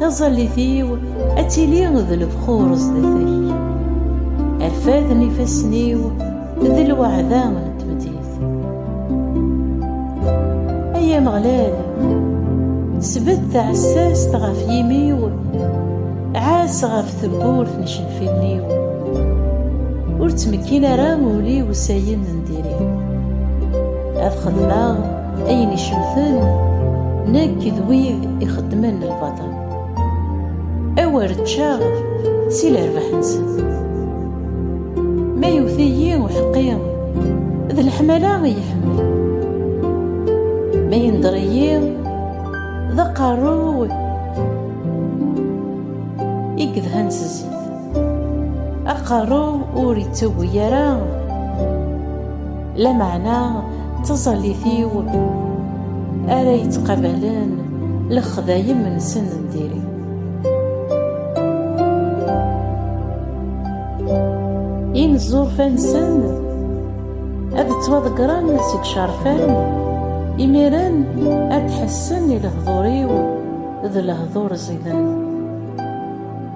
Taẓallit-iw ad tili d lebxur zdat-k. Rfad n ifassen-iw d lweɛda n tmeddit. Ay Ameɣlal, sbedd taɛessast ɣef yimi-w, ɛass ɣef tewwurt n icenfiren-iw. Ur ttmekkin ara ul-iw s ayen n diri. Ad xedmeɣ Ayen icemten nekk d wid ixeddmen lbaṭel. Awer ččaɣ si lerbaḥ-nsen. Ma yewwet-iyi uḥeqqi, d leḥmala i iḥemmel. Ma yendeṛ-iyi, d aqerru i yedhan s zzit. Aqerru ur ittagi ara lameɛna d taẓallit-iw ara yettqabalen lexdayem-nsen n diri. Inezzurfa-nsen ad ttwaḍeggren seg icerfan, imiren ad d-ḥessen i lehdur-iw d lehdur ẓidan.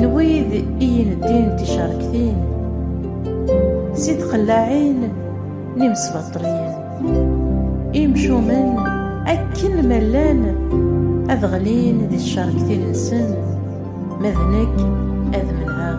n wid i yineddin n ticerktin, si tqellaɛin n imesbaṭliyen, imcumen akken ma llan ad ɣlin di tcerktin-nsen, ma d nekk ad menɛeɣ.